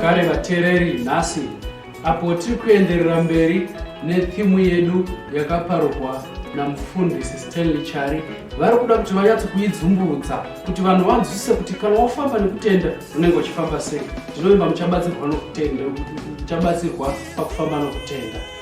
zvekare vateereri nhasi apo tiri kuenderera mberi nethimu yedu yakaparurwa namufundisi stanley chari vari kuda kuti vanyatso kuidzumburudza kuti vanhu vanzwisise kuti kana wafamba nekutenda unenge uchifamba sei ndinovimba muchabatsirwa nokutenda muchabatsirwa pakufamba nokutenda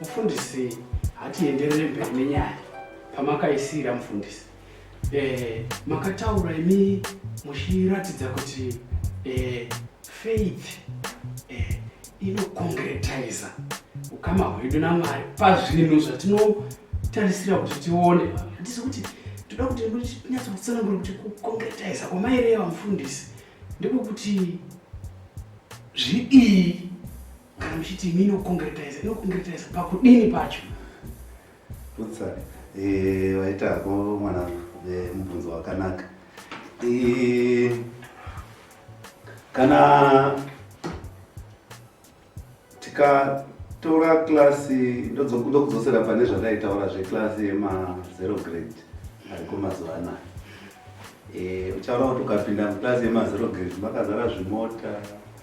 Mufundisi hatienderere mberi nenyaya pamakaisiira mufundisi eh, makataura imi muchiratidza kuti eh, faith eh, inokongretiza ukama hwedu namwari pazvinhu zvatinotarisira kuti tione hatisi kuti toda kuti nyatso kutsanangura kuti kukongretiza kwamaireva mufundisi ndiko kuti zvidii Kana muchiti imi inokongretize, inokongretize pakudini pacho? Utsa, eh, waita hako mwana eh, mubvunzo wakanaka. Eh, kana tikatora klasi ndokudzosera pane zvataitaura zveklasi yemazero grade ariko mazuva anaya Eh, uchaona kuti ukapinda muklasi yemazero grade makazara zvimota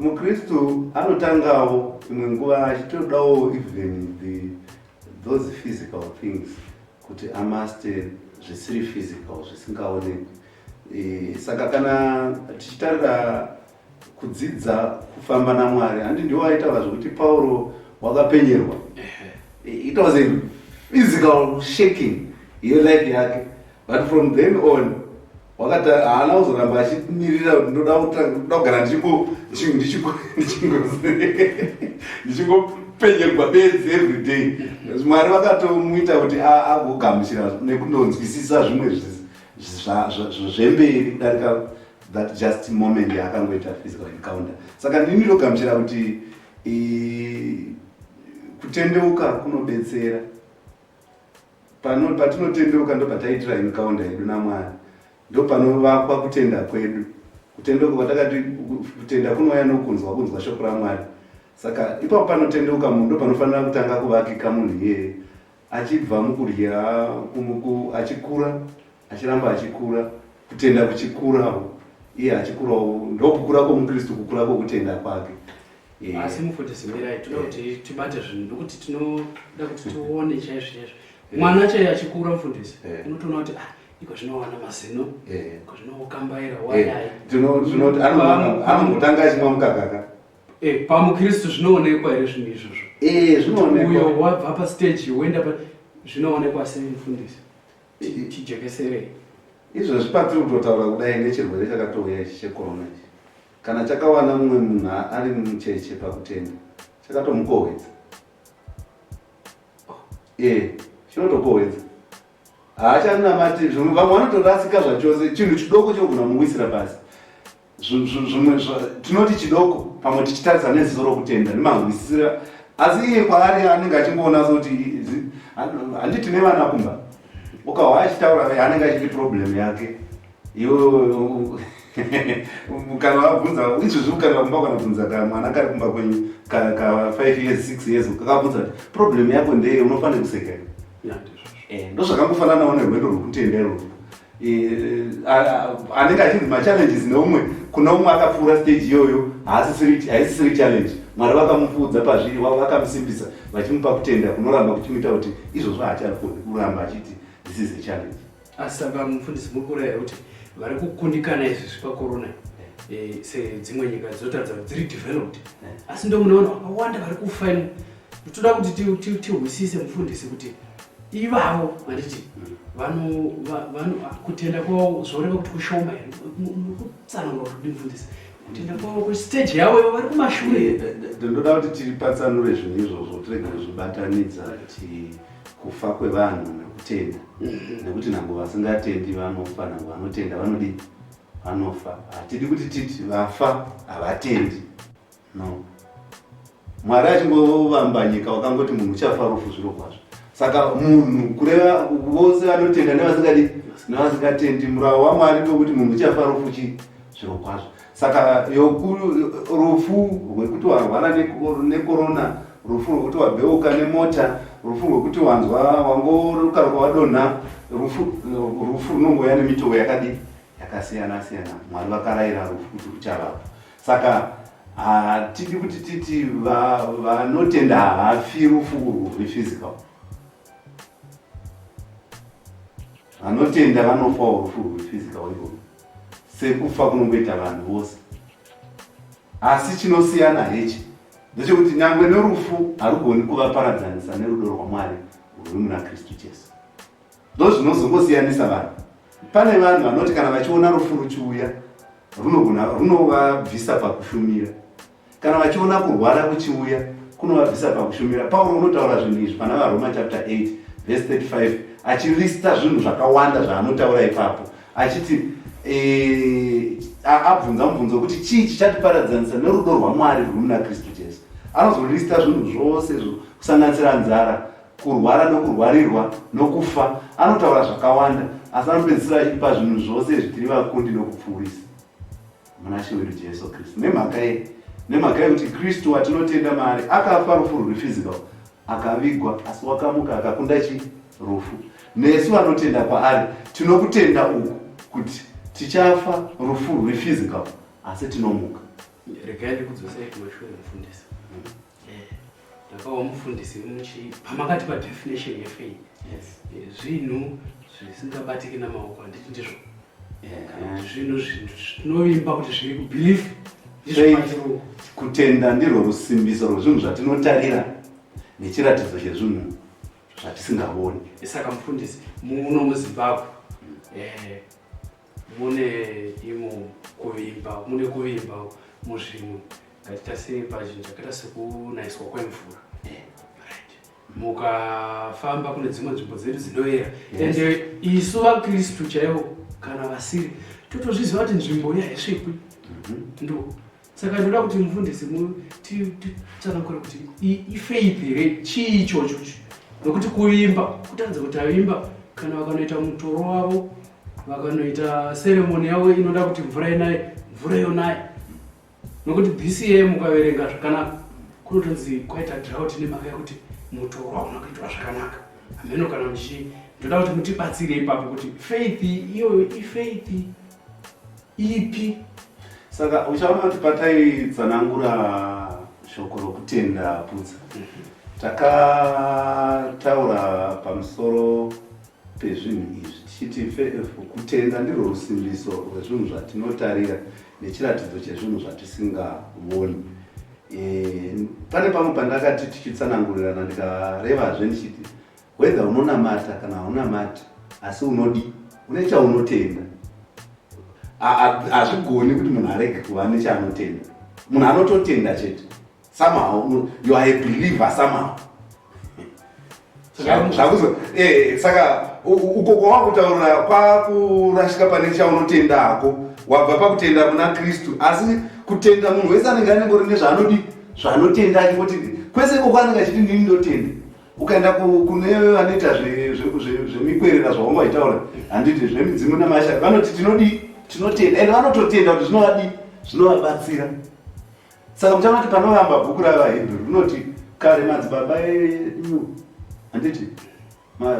MuKristu anotangawo imwe nguva achitodawo even the those physical things kuti amaster zvisiri physical zvisingaonekwi. E, saka kana tichitarira kudzidza kufamba naMwari handi ndiwo aitaura zvekuti Pauro wakapenyerwa. It was a physical shaking yelife yake but from then on wakati haana kuzoramba achimirira kuti ndoda kugara ndichingopenyerwa bedzi everyday mwari vakatomuita kuti agogamuchira nekundonzwisisa zvimwe zvemberi kudarika that just moment yaakangoita physical encounter saka ndini ndogamuchira kuti kutendeuka kunobetsera Pano patinotendeuka ndopataitira encounter yedu naMwari. Ndopanovakwa kutenda kwedu. Kutendeuka kwatakati kutenda kunouya nokunzwa kunzwa shoko raMwari. Saka ipapo panotendeuka munhu ndopanofanira kutanga kuvakika munhu iyeye achibva mukudya achikura achiramba achikura kutenda kuchikurawo iye achikurawo ndokukura kwomukristu kukura kwokutenda kwake eh. asi mufundisi mirai toda eh. kuti tibate zvinhu nokuti tinoda kuti tione chaizvo chaizvo eh. mwana chaiye achikura mufundisi unotoona kuti ah, iko zvinowana mazino ko zvinokambaira wadai tinoti anongotanga achimwa mukakaka pamukristu zvinoonekwa here zvinhu izvozvo zvinoonekwa uyo wabva pastage woenda zvinoonekwa sei mufundisi tijekeserei izvozvi patiri kutotaura kudai ngechirwere chakatouya ichi chekorona ichi kana chakawana mumwe munhu ari mucheche pakutenda chakatomukohwedza oh, e chinotokohwedza haachanamati zvimwe vamwe vanotorasika zvachose chinhu chidoko chinogona kumuwisira pasi zvimwe tinoti chidoko pamwe tichitarisa neziso rokutenda nemahwisisira asi iye kwaari anenge achingoona sekuti handiti nevana kumba ukahwa achitaura anenge achiti problem yake iwewe kana wabvunza izvozvi ukareva kumba kana bvunza ka mwana kari kumba kwenyu ka five years six years kakabvunza kuti problem yako ndeye unofanira kuseka ndozvakangofananawo nerwendo rwokutenda irwoo anenge achinzi machallenges neumwe kuna umwe akapfuura stage iyoyo haisisiri challenge mwari vakamupfuudza pazviri wavo vakamusimbisa vachimupa kutenda kunoramba kuchimuita kuti izvozvo haachakoni kuramba achiti this is a challenge asi saka mufundisi muri kurayira kuti vari kukundikana izvi zvepakorona eh, sedzimwe nyika dzotadza dziri developed eh. asi ndomunoona vakawanda vari kufa imo Toda kuti tihwisise mufundisi kuti ivavo vanditi kutenda kwavo zvoreva kuti kushoma here kutsanangura kuti mufundisi kutenda kwavo kustage yavo ivo vari kumashure eh, eh, eh, ndoda kuti tiripatsanure zvinhu izvozvo tirege kuzvibatanidza kuti kufa kwevanhu nekutenda mhm. nekuti nhango vasingatendi vanofa nhango vanotenda vanodii vanofa hatidi kuti titi vafa havatendi no mwari achingovamba nyika wakangoti munhu uchafa rufu zviro kwazvo saka munhu kureva vose vanotenda nevasingadi nevasingatendi muravo wamwari ndokuti munhu uchafa rufu chii zviro kwazvo saka rufu rwekuti warwara nekorona rufu rwekuti wabheuka nemota rufu rwekuti wanzwa wangorukaruka wadonha rufu runongouya nemitovo yakadii yakasiyana siyana mwari vakarayira rufu kuti ruchavapa saka hatidi kuti titi vanotenda hafi rufu rwephysical vanotenda vanofawo rufu rwephysical ivo sekufa kunongoita vanhu vose asi chinosiyana hechi ndechekuti nyangwe nerufu harugoni kuvaparadzanisa nerudo rwamwari rwuri muna kristu jesu Ndozvinozongosiyanisa vanhu. Pane vanhu vanoti kana vachiona rufu ruchiuya runogona runovabvisa pakushumira. Kana vachiona kurwara kuchiuya kunovabvisa pakushumira. Pauro unotaura zvinhu izvi pana vaRoma chapter 8 verse 35 achirista zvinhu zvakawanda zvaanotaura ipapo achiti e, abvunza mubvunzo wekuti chii chichatiparadzanisa nerudo rwaMwari rwuri muna Kristu Jesu. Anozorista zvinhu zvose izvo kusanganisira nzara, kurwara nokurwarirwa nokufa anotaura zvakawanda asi anopedzisira achipa zvinhu zvose izvi tiri vakundi nokupfuurisa muna she wedu jesu kristu nemhaka ye nemhaka yekuti kristu watinotenda maari akafa rufu ruri physical akavigwa asi wakamuka akakunda chi rufu nesu vanotenda kwaari tinokutenda uku kuti tichafa rufu ruri physical asi tinomuka regai ndikudzosei kumashure mufundisi ndakawa mufundisi muchi pamakati padefinition yefaith zvinhu zvisingabatiki namaoko handiti ndizvo zvinhu zvinovimba kuti zviri kubelieve kutenda ndirwo rusimbiso rwezvinhu zvatinotarira nechiratidzo chezvinhu zvatisingavoni saka mufundisi muno muzimbabwe eh, mune imo kuvimba mune kuvimba muzvinhu ngatiita sei pazvinhu zvakaita sekunaiswa kwemvura eh, mukafamba kune dzimwe nzvimbo dzedu dzinoyera ende isu vakristu chaivo kana vasiri totozviziva kuti nzvimbo iyi haisvikwi mhm. ndo saka ndoda kuti mufundisi titsanangure kuti ifaith here chii ichocho nokuti kuvimba kutadza kuti avimba kana vakanoita mutoro wavo vakanoita seremoni yavo inoda kuti mvura inaye mvura yonaye nokuti bca mukaverenga zvakanaka kunotonzi kwaita draut nemhaka yekuti mutoro hauna kuitwa zvakanaka hameno kana muchi ndoda kuti mutibatsire ipapo kuti faith iyoyo ifaith ipi saka uchaona kuti pataitsanangura shoko rokutenda putsa takataura pamusoro pezvinhu izvi tichiti kutenda ndirwo rusimbiso rwezvinhu zvatinotarira nechiratidzo chezvinhu zvatisingavoni e, pane pamwe pandakati tichitsanangurirana ndikarevazve ndichiti Whether unonamata kana haunamati asi unodi une chaunotenda. Hazvigoni kuti munhu arege kuva nechaanotenda. Munhu anototenda chete. Somehow you are a believer somehow. Zvakuzo eh saka uko kwakutaura kwakurashika pane chaunotenda hako wabva pakutenda kuna Kristu asi kutenda munhu wese anenge anengori nezvaanodi zvaanotenda achipoti kwese iko kwanenge achiti ndini ndotenda ukaenda kune vanoita zvemikwerera zvavanga vaitaura handiti zvemidzimu namasha vanoti tinodii tinotenda ende vanototenda kuti zvinovadii zvinovabatsira saka muchaona kuti panovamba bhuku ravahebheru rinoti kare madzibaba edu handiti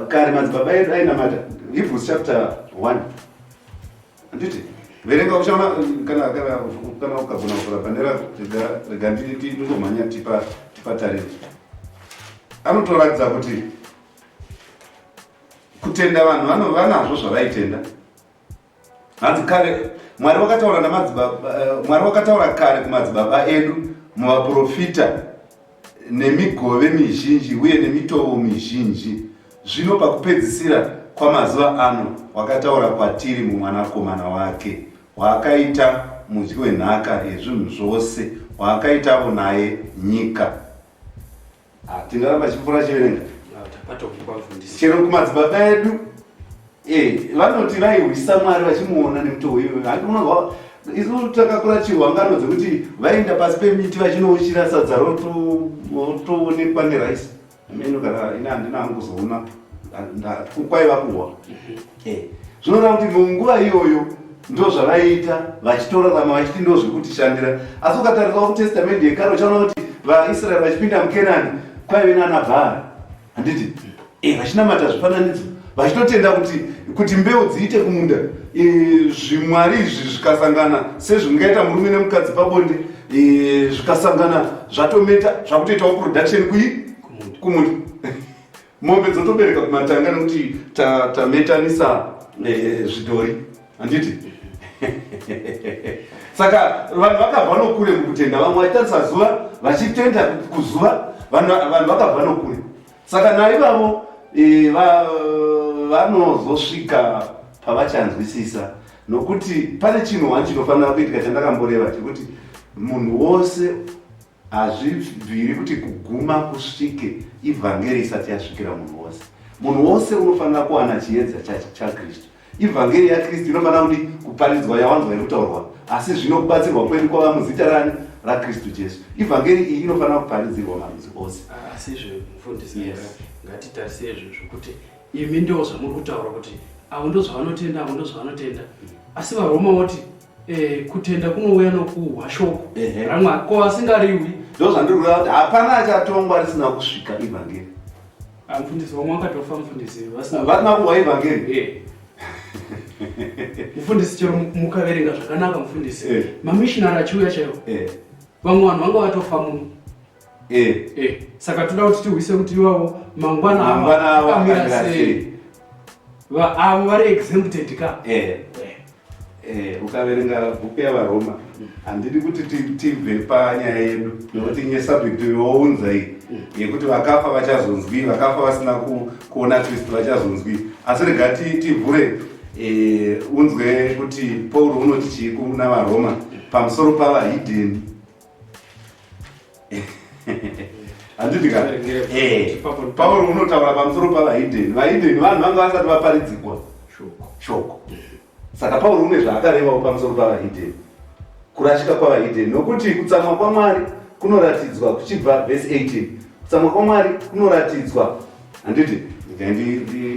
kare madzibaba edu ainamata hebrews chapter one Anditi verenga uchaona kana kana kana ukagona kuvhura panera rega rega nditi ndingomhanya tipa tipa tariro. Anotoratidza kuti kutenda vanhu vano vanazvo zvavaitenda. Hanzi kare Mwari wakataura namadzibaba eh, Mwari wakataura kare kumadzibaba edu muvaprofita nemigove mizhinji uye nemitovo mizhinji zvino pakupedzisira kwamazuva ano wakataura kwatiri mumwanakomana wake waakaita mudyi wenhaka yezvinhu zvose waakaitavo naye nyika ah, tingaramba chimvura chiverenga chero kumadzibaba edu Eh, vanoti vaihwisa mwari vachimuona nemutoo iyoyo handi unonzwa isu takakura chirwa ngano dzekuti vaenda pasi pemiti vachinouchira sadza rotoonekwa neraisi meno kana ini handina hangu kuzoona kwaiva kuhwa mhm. eh, zvinoreva kuti munguva iyoyo ndo zvavaiita vachitorarama vachiti ndo zvekutishandira asi ukatarisa kutestamende yekare uchaona kuti vaisraeri vachipinda mukenani kwaive nana bhaari handiti eh, vachinamata zvifananidzo vachitotenda kuti kuti mbeu dziite kumunda eh, zvimwari izvi zvikasangana sezvingaita murume nemukadzi pabonde eh, zvikasangana zvatometa zvakutoitawo production kuyi kumunda mombe dzotobereka kumatanga nekuti tametanisa zvidhori handiti saka vanhu vakabva nokure mukutenda vamwe vachitarisa zuva vachitenda kuzuva vanhu vakabva nokure saka naivavo e, vanozosvika pavachanzwisisa nokuti pane chinhu wani chinofanira kuitika chandakamboreva chekuti munhu wose Hazvibviri kuti kuguma kusvike ivhangeri isati yasvikira munhu wose. Munhu wose unofanira kuwana chiedza chaKristu. Ivhangeri yaKristu inofanira kuti kuparidzwa yawanzwa irikutaurwa, asi zvino kubatsirwa kwedu kwava muzita rani raKristu Jesu. Ivhangeri iyi inofanira kuparidzirwa marudzi ose. Ah, asi izvo mufundisi, yes. ngatitarise izvo zvokuti imi ndo zvamuri kutaura kuti avo ndo zvavanotenda avo ndo zvavanotenda asi varoma woti Eh, kutenda kunouya nokuhwa shoko ramwari ko asingariwi ndozvandirikuda kuti hapana achatongwa risina kusvika ivhangeri mfundisi vamwe vakatofa mfundisi vasina kuhwa ivhangeri eh. mfundisi chero mukaverenga zvakanaka mfundisi eh. mamishinari achiuya chaiwo vamwe vanhu vanga vatofa muno Eh. Eh. Saka toda kuti tihwise kuti iwawo mangwana mangwana awo akamira sei. Va avo vari exempted ka. Eh. Eh. eh ukaverenga bhuku yavaroma mm. handidi kuti tibve panyaya yedu mm. nokuti nye subject younza iyi mm. yekuti vakafa vachazonzwi vakafa vasina kuona kristu vachazonzwi asi rega tivhure eh, unzwe kuti pauro unoti chii kuna varoma pamusoro pavahidheni handiti ka eh, pauro unotaura pamusoro pavahideni vahideni vanhu vanga vasati vaparidzikwa shoko saka pauro une zvaakarevawo pamusoro pavahideni kurashika kwavahideni nokuti kutsamwa kwamwari kunoratidzwa kuchibva vhesi 18 kutsamwa kwamwari kunoratidzwa handiti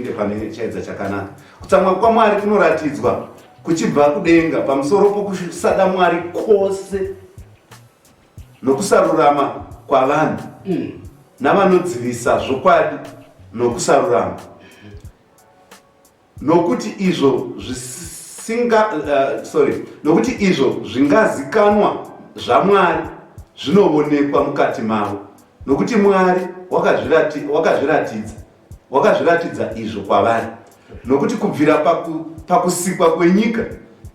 ndipane chaedza chakanaka kutsamwa kwamwari kunoratidzwa kuchibva kudenga pamusoro pokusada mwari kwose nokusarurama kwavanhu mm. navanodzivisa zvokwadi nokusarurama nokuti izvo zvisinga uh, sorry nokuti izvo zvingazikanwa zvamwari zvinovonekwa mukati mavo nokuti mwari wakazviratidza Wakazviratidza izvo kwavari, nokuti kubvira paku, pakusikwa kwenyika,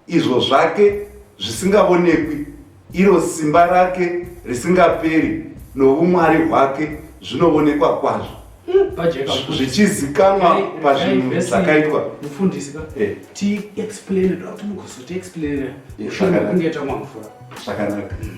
izvo zvake zvisingavonekwi, iro simba rake risingaperi noumwari hwake zvinovonekwa kwazvo, zvichizikanwa pazvinhu zvakaitwa. Mufundisi ka eh. ti explain kuti mukuzoti explain eh, mushure mekunge tamwa mvura zvakanaka. Mm.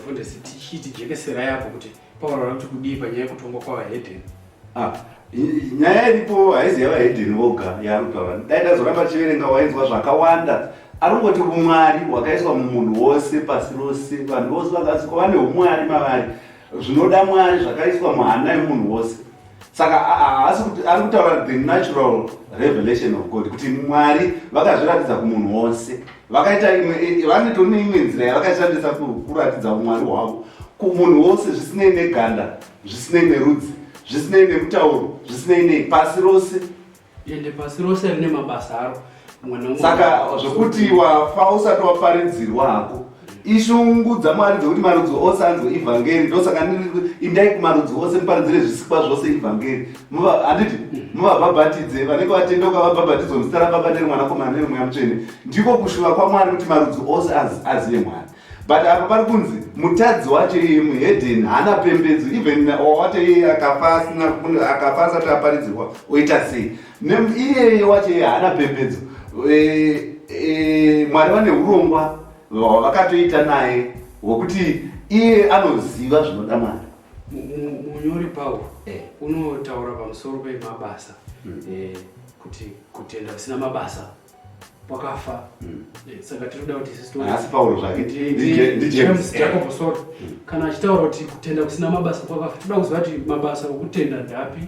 Mfundisi tichiti jekeserai apo kuti Pauro ari kuti kudii panyaya yekutongwa kwavahedheni. Ah, i- nyaya iripo haizi yavahedheni voga yaari kutaura dai ndazoramba achiverenga wainzwa zvakawanda arongoti umwari hwakaiswa mumunhu wose pasi rose vanhu vose vakasikwa vane umwari mavari zvinoda mwari zvakaiswa muhana yemunhu wose saka haasi kuti ari kutaura the natural revelation of god kuti mwari vakazviratidza kumunhu wose vakaita imwe e, e, vanoto neimwe nzira yavakashandisa kuratidza umwari hwavo kumunhu wose zvisinei neganda zvisinei nerudzi zvisinei nemutauro zvisinei nei pasi rose ende pasi rose rine mabasa aro saka zvokuti wafa usati waparidzirwa hako ishungu dzamwari dzokuti marudzi ose anzwe ivhangeri ndosaka indai kumarudzi ose muparidzire zvisikwa zvose ivhangeri handiti mm. muvabhabhatidze vanenge vatendeuka vabhabhatidzwa muzita rababa neremwanakomana neremweya mutsvene ndiko kushuva kwamwari kuti marudzi ose azive mwari but apa pari kunzi mutadzi wacho iye muhedhen haana pembedzo even wawacho iye akafa asina akafa asati aparidzirwa oita sei iyeye wacho iye haana pembedzo eh, eh, mwari vane urongwa hwavakatoita naye hwekuti iye anoziva zvinoda mwari munyori pauro eh. unotaura pamusoro pemabasa hmm. kuti kutenda kusina mabasa wakafa hmm. eh, saka tinoda kuti isiasi pauro zvake ndijames jacob sort hmm. kana achitaura kuti kutenda kusina mabasa kwakafa toda kuziva kuti mabasa okutenda ndapi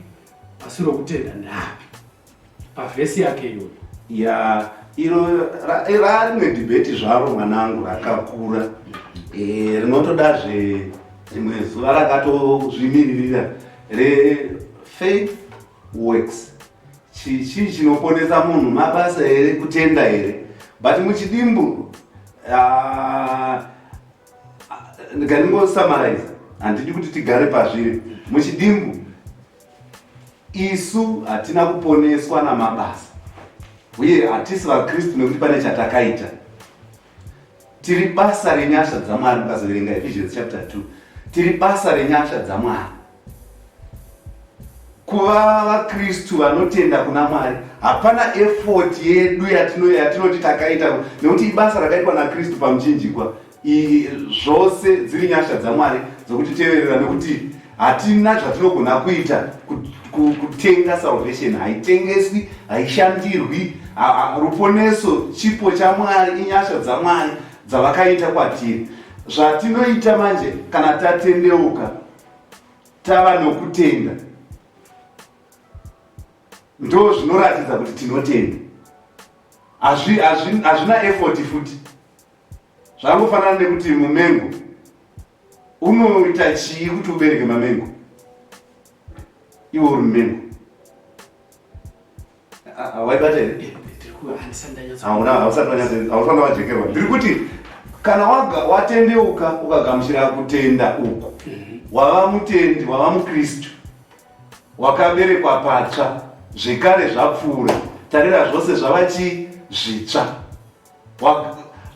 asi rokutenda ndapi pavhesi yake iyoyo ya iro rarimwe dibheti zvaro mwanangu rakakura hmm. eh, rinotodazve rimwe zuva rakatozvimiririra refaith works Chichi chinoponesa munhu mabasa here kutenda here but muchidimbu ah, ndikandingosummarize handidi kuti tigare pazviri muchidimbu isu hatina kuponeswa namabasa uye hatisi vakristu nekuti pane chatakaita tiri basa renyasha dzamwari mukazoverenga ephesians chapter 2 tiri basa renyasha dzamwari kuva vakristu vanotenda kuna mwari hapana effort yedu yatinoti takaita nekuti ibasa rakaitwa nakristu pamuchinjikwa zvose dziri nyasha dzamwari dzokutiteverera nekuti hatina zvatinogona kuita kutenga salvation haitengeswi haishandirwi ruponeso chipo chamwari inyasha dzamwari dzavakaita kwatiri zvatinoita manje kana tatendeuka tava nokutenda ndo zvinoratidza kuti tinotenda hazvina effort futi zvangofanana nekuti mumengo unoita chii kuti ubereke mamengo iwe uri mumengo waibata here hausana wajekerwa ndiri kuti kana watendeuka ukagamuchira kutenda uku mhm. wava mutendi wava mukristu wakaberekwa patsva zvekare zvapfuura tarira zvose zvava chii zvitsva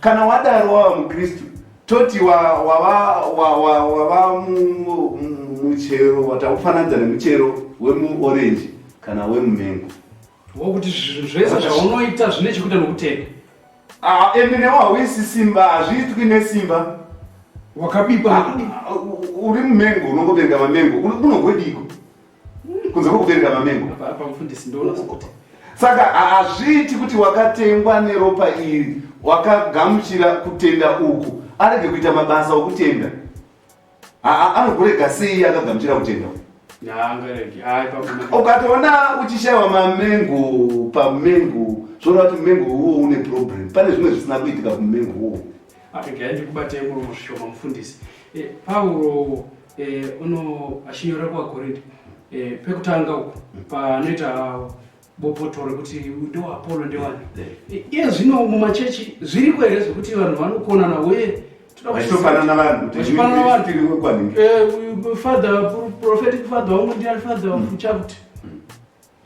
Kana wadaro wava muKristu toti wava muchero watakufananidza nemuchero wemuorenji kana wemumengo wokuti zvinhu zvese zvaunoita zvine chekuita nokutenda ah, ende newo hauisi simba hazviitwi nesimba wakabipa ah, uri mumengo unongovenga mamengo unogwediko kunze kwekubereka mamengo pamufundisi ndoona sokuti saka hazviiti kuti wakatengwa neropa iri wakagamuchira kutenda uku arege kuita mabasa okutenda anogurega sei akagamuchira kutenda ukatoona uchishayiwa mamengo pamengo zvoona kuti mumengo uwo une problem pane zvimwe zvisina kuitika kumumengo uwo aregai ndikubatei muromo zvishoma mufundisi eh, pauro eh, uno achinyora kuvakorinde eh, pekutanga uku panoita bopoto rekuti ndoapolo ndewani eh, iye zvino mumachechi zviriko here zvekuti vanhu vanokonana uye todakufanana vanhu vachifanana vanhu eh, father prophetic father wangu ndiani father wangu mm. chakuti mm.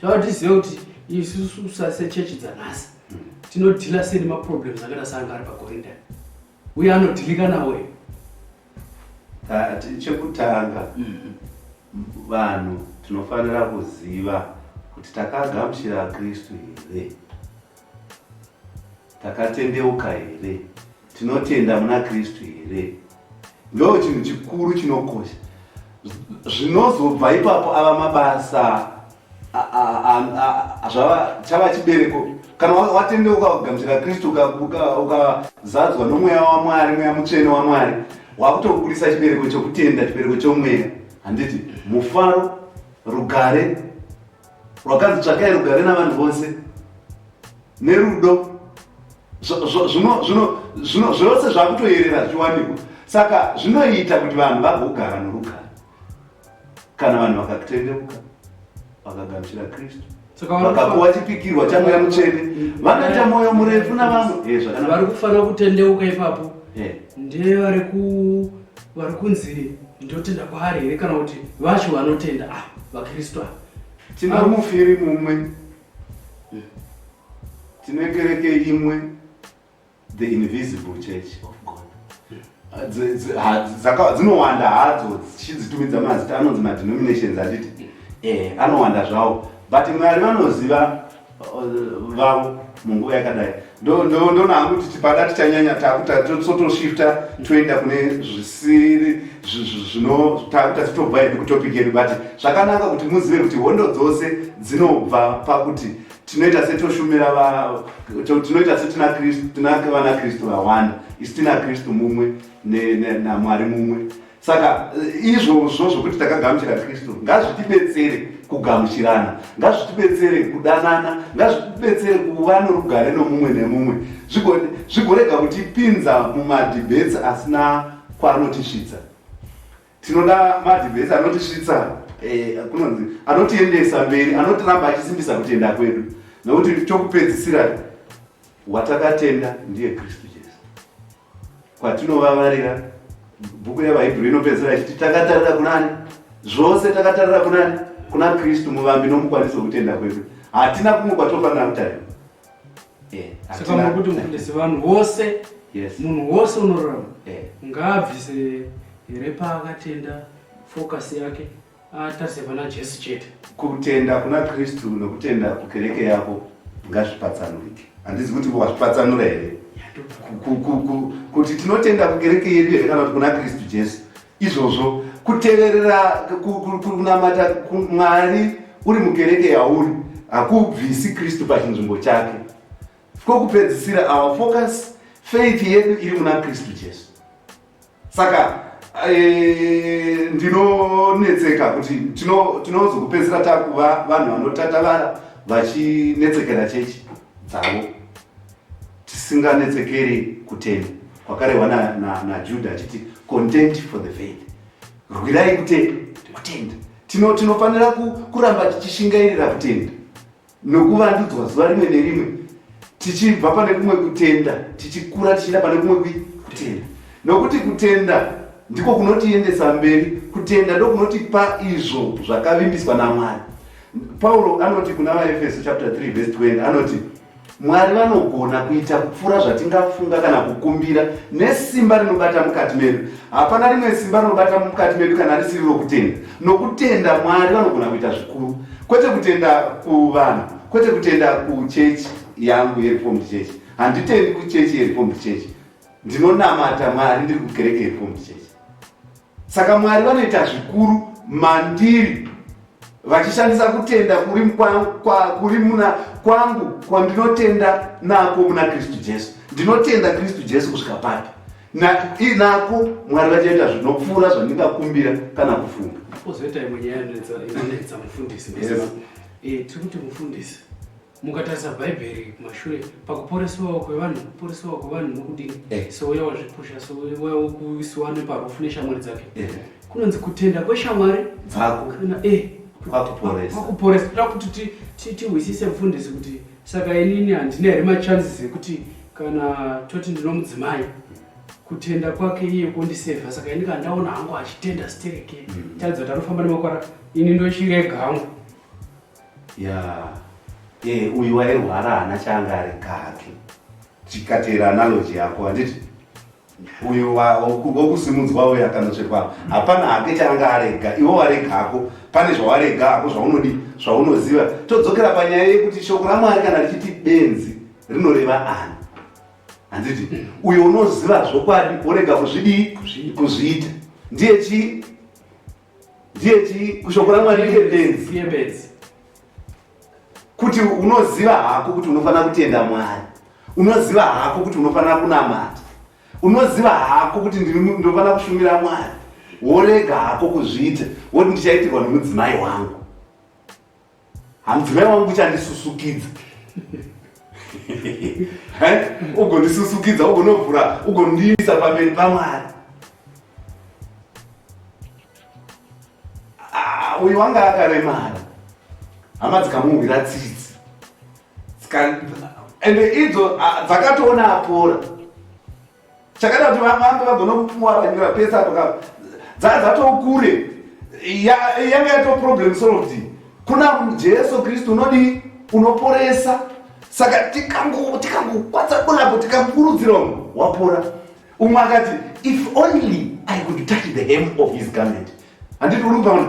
chawatiziva kuti isusu sasechechi dzanhasi tinodhila sei nemaproblems akaita seanga ari pakorindani uye anodhilika nawe chekutanga mm-hmm. vanhu tinofanira kuziva kuti takagamuchira kristu here takatendeuka here tinotenda muna kristu here ndo chinhu chikuru chinokosha zvinozobva ipapo ava mabasa chava chibereko kana watendeuka ukagamuchira kristu ukazadzwa nomweya wamwari mweya mutsvene wamwari wakutoburitsa chibereko chokutenda chibereko chomweya handiti mufaro rugare rwakanzi tsvakai rugare navanhu vose nerudo zvose zvakutoyerera zviwanikwa saka zvinoita kuti vanhu vagogara norugare kana vanhu vakakutendeuka vakagamuchira kristu vakapuwa chipikirwa chamweya mutsvene mm. vanoita mwoyo murefu navamwe eh, vari kufanira kutendeuka ipapo eh. ndiye vari ku vari kunzi ndotenda kwaari here kana kuti vacho vanotenda a ah, vakristu ava tino mufiri mumwe tine kereke imwe the invisible church of god dzinowanda hadzo dzichidzitumidza mazita anonzi madenominations handiti eh, anowanda zvawo but mwari vanoziva uh, vavo munguva yakadai ndoona hangu kuti tipada tichanyanya takuta totoshifta toenda kune zvisiri zvino takuta titobva hedu kutopic yedu but zvakanaka kuti muzive kuti hondo dzose dzinobva pakuti tinoita setoshumira vavo tinoita setina kristu tina vana kristu vawanda isi tina kristu mumwe namwari mumwe saka izvozvo zvokuti takagamuchira kristu ngazvitibetsere kugamuchirana ngazvitibetsere kudanana ngazvitibetsere kuva norugare nomumwe nemumwe zvigorega kutipinza mumadhibheti asina kwaanotisvitsa tinoda madhivhesi anotisvitsa eh, kunonzi anotiendesa mberi anotiramba achisimbisa kutenda kwedu nokuti chokupedzisira watakatenda ndiye kristu jesu kwatinovavarira bhuku yevahibhuru inopedzisira ichiti takatarira kunani zvose takatarira kunani kuna kristu muvambi nomukwanisi wokutenda kwedu hatina kumwe kwatofanira kutarira saka muri kuti mufundisi vanhu vose munhu wose unorarama ngaabvise here paakatenda focus yake atarise pana jesu chete kutenda kuna kristu nokutenda kukereke yako ngazvipatsanurike handizi kuti wazvipatsanura here kuti tinotenda kukereke yedu here kana kuti kuna kristu jesu Izvozvo kuteverera kunamata Mwari uri mukereke yauri hakubvisi Kristu pachinzvimbo chake. Kokupedzisira our focus faith yedu iri muna Kristu Jesu. Saka eh, ndinonetseka kuti tinozokupedzisira takuva vanhu vanotatavara vachinetsekera chechi dzavo. Tisinganetsekeri kutenda kwakarehwa naJudha na, na achiti content for the faith, rwirai kutenda. Kutenda tino tinofanira kuramba tichishingairira kutenda nokuvandudzwa zuva rimwe nerimwe, tichibva pane kumwe kutenda tichikura tichienda pane kumwe kutenda, nokuti kutenda ndiko kunotiendesa mberi. Kutenda ndokunotipa izvo zvakavimbiswa naMwari. Pauro anoti kuna vaEfeso chapter 3 verse 20 anoti Mwari vanogona kuita kupfuura zvatingafunga kana kukumbira nesimba rinobata mukati medu. Hapana rimwe simba rinobata mukati medu kana risiri rokutenda. Nokutenda Mwari vanogona kuita zvikuru, kwete kutenda kuvanhu, kwete kutenda kuchechi yangu yereformed church. Handitendi kuchechi yereformed church, ndinonamata Mwari ndiri kukereke yereformed church. Saka Mwari vanoita zvikuru mandiri vachishandisa kutenda kuri kuri muna kwangu kwandinotenda nako muna kristu jesu ndinotenda kristu jesu kusvika papi nako mwari vachaita zvinopfuura zvandingakumbira kana kufunga ozoita imwe nyaya inonetsa mufundisi eh, tiri kuti mufundisi mukatarisa bhaibheri kumashure pakuporesewawo kwevanhu kuporesewawo kwevanhu nokudini eh. souya wazvipusha souya wokuisiwa neparufu neshamwari dzake eh. kunonzi kutenda kweshamwari dzako kana e eh, kwakuporesa toda kuti tihwisise mfundisi kuti saka inini handina here machances ekuti kana toti ndinomudzimai kutenda kwake iye kundisevha saka ini kandaona hangu achitenda stereke mm. taridza kuti anofamba nemakwara ini ndochirega hangu Yeah. Eh, uyu wairwara hana changa ari kake chikatera analogy yako handiti uyu wokusimudzwa uyu akanotsvetwa hapana hake changa arega iwo warega hako pane zvawarega hako zvaunodi zvaunoziva todzokera panyaya yekuti shoko ramwari kana richiti benzi rinoreva ani handiti uyo unoziva zvokwadi worega kuzvidii kuzviita ndiye chii ndiye chii kushoko ramwari ndiye benzi kuti unoziva hako kuti unofanira kutenda mwari unoziva hako kuti unofanira kunamata unoziva hako kuti ndinofanira kushumira mwari worega hako kuzviita woti ndichaitirwa nemudzimai wangu Hanzvai wangu kuchandisusukidza. Eh? Ugondisusukidza, ugonovhura, ugondiisa pamberi paMwari. Ah, uyu wanga akaremara. Hama dzikamuhwira tsitsi. Ende idzo ah, dzakatoona apora. chakada kuti vamambe vagona kupuwaanyura pese apo ka dzadzatokure yanga yato problem solved kuna jesu kristu unodii unoporesa saka tikangokwadza bulapo tikakurudzira umwe wapora umwe akati if only i could touch the hem of his garment handiti uri kupaona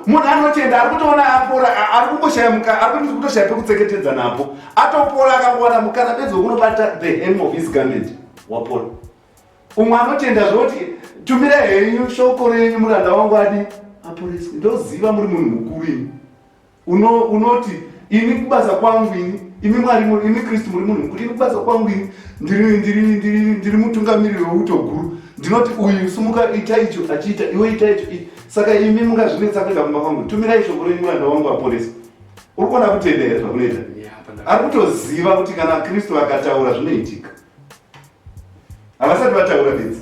munhu anotenda ari kutoona apora ari kungoshaya mukana ari kuti kutoshaya pekutseketedza napo atopora akangowana mukana bedzi wekunobata the hem of his garment wapora umwe anotenda zvoti tumira henyu shoko renyu muranda wangu adi aporeswe ndoziva muri munhu mukuru ini uno unoti ini kubasa kwangu ini imi mwari imi kristu muri munhu mukuru ini kubasa kwangu ini ndiri ndiri ndiri ndiri mutungamiriri weuto guru ndinoti uyu sumuka ita icho achiita iwe ita icho saka imi mungazvinetsa kuenda kumba kwangu tumirai shoko renyu muranda wangu aporesa uri kuona kutenda here zvakunoita ari kutoziva kuti kana kristu vakataura zvinoitika havasati vataura bedzi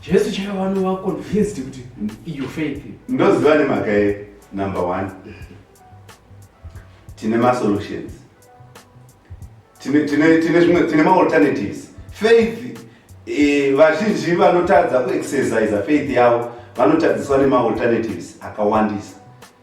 Jesu chaiva vanova convinced kuti iyo faith. Ndoziva nemhaka ye number one. Tine masolutions. Tine, tine, tine, tine, tine maalternatives. Faith, eh, vazhinji vanotadza kuexercise faith yavo vanotadziswa nemaalternatives akawandisa.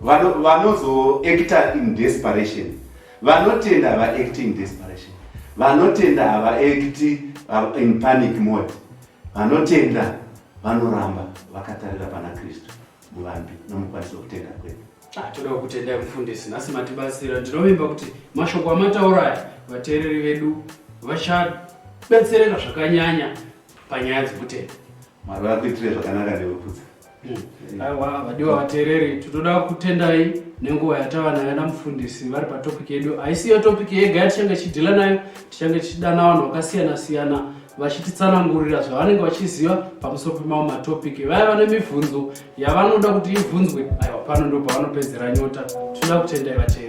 vanozoacta in desperation vanotenda havaacti in desperation vanotenda havaacti uh, in panic mode vanotenda vanoramba vakatarira pana kristu muvambi nomukwanisi wekutenda kwedu ah, toda kutendai mufundisi nhasi matibatsira ndinovimba kuti mashoko amataura aya vateereri vedu vachabetsereka zvakanyanya panyaya dzekutenda mwari vakuitire zvakanaka neveputsa Aiwa vadiwa vateereri, tinoda kutendai nenguva yatava nayo namufundisi vari patopiki yedu. Haisi iyo topiki yega yatichange tichidhila nayo, tichange tichidana vanhu vakasiyana siyana vachititsanangurira zvavanenge vachiziva pamusoro pemamwe matopiki. Vaya vane mibvunzo yavanoda kuti ibvunzwe, aiwa pano ndo pavanopedzera nyota. Tinoda kutendai vateereri.